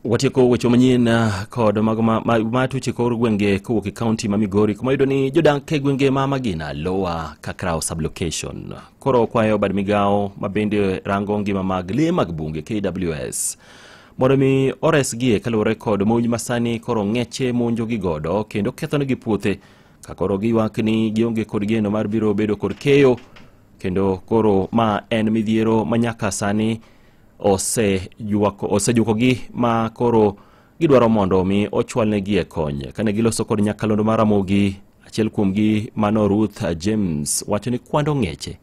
watieko weche manyien ah, kod mago ma- ma- matuche kor gwenge kowuok e kaunti ma migori kuma yudo ni jodak e gwenge ma magina lowa kakraw sublocation koro kwayo bad migawo ma bende rango ngima mag lee mag bunge kws mondo mi oresgie kaluwore kod monj masani koro ng'eche monjogi godo kendo kethonegi puothe ka koro giywak ni gionge kod geno mar biro bedo kod keyo kendo koro ma en midhiero ma nyaka sani osejukogi ma koro gidwaro mondo omi ochwalnegi e kony kane giloso kod nyakalondo mar Ramogi achiel kuomgi mano Ruth James wacho ni kwando ng'eche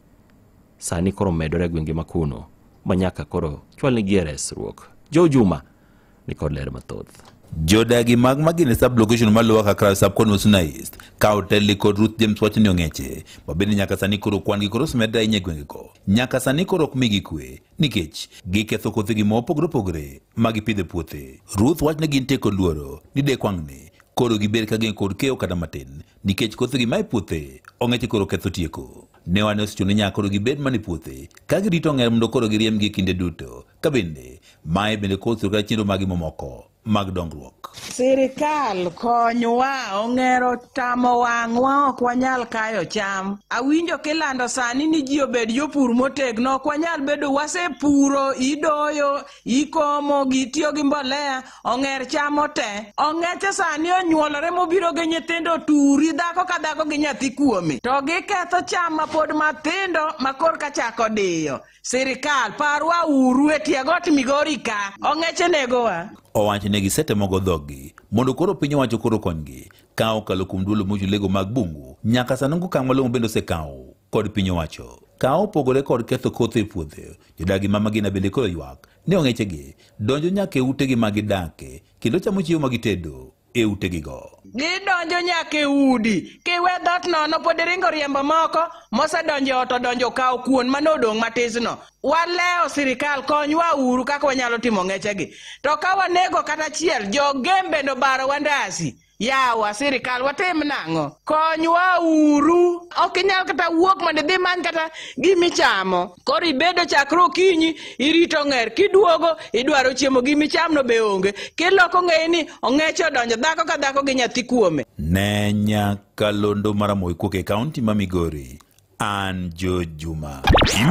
sani koro medore e gwenge makuno ma nyaka koro chwalnegi e resruok Jo Juma ni kod ler mathoth jodagi mag magine sub location ma lower kakra sub kon wasunaist ka otelli kod ruth james wacho ni ong'eche ma bende nyaka sani koro kwan gi koro osmedre ahinya e gwengego nyaka sani koro ok migi kwe nikech giketho kothegi ma opogore opogore ma gipidho e puothe. Ruth wachne gin te kod luoro ni dek wang'ne koro giber ka gin kod kewo kata matin nikech kothegi ma e puothe ong'eche koro ketho tieko. Ne wane osechune nyaka koro gibed mana e puothe ka girito ong'er mondo koro giriembgi e kinde duto. Ka bende, mae bende koro sirkal chenro magi mamoko. mag dongruok. Sirikal konywa, ong'ero tamo wang'wa, ok wanyal kayo cham. Awinjo kilando sani ni ji obed jopur motegno, ok wanyal bedo wasepuro, idoyo, ikomo, gitiyo gi mbolea, ong'er chamo te. Ong'eche sani onyuolore mobiro gi nyithindo turi, dhako ka dhako gi nyathi kuome. To giketho cham ma pod matindo ma korka chako diyo. Sirikal, parwa uru e tie got Migori ka. Ong'eche negowa. Owacho ne gisetemogo dhoggi mondo koro piny owacho koro konygi ka okalo kuom duolo mochung lego mag bungu nyaka sani onge okang' malong'o bende osekawo kod piny owacho ka opogore kod ketho kothe e puothe jodagi ma magina bende koro ywak ni ong'echegi donjo nyaka e utegi ma gidake kendo chamo chiemo ma gitedo e utegigo. Gidonjo nyaka e udi, kiwe dhoot nono pod iringo riembo moko mosedonjo e ot odonjo okawo kuon mane odong' matisno. Walewo sirikal konywa uru kaka wanyalo timo ng'echegi. To ka wanego kata achiel, jogem bende obaro wandasi. Yawa sirikal watim nang'o? Konywa uru. Ok inyal kata wuok mondo idhi many kata gimichamo. koro ibedo chakre okinyi irito ng'er kiduogo idwaro chiemo gi michamno be onge kiloko ng'eyi ni ong'eche odonjo dhako ka dhako gi nyathi kuome ne nyakalondo maramoikuok e kaunti ma migori an jojuma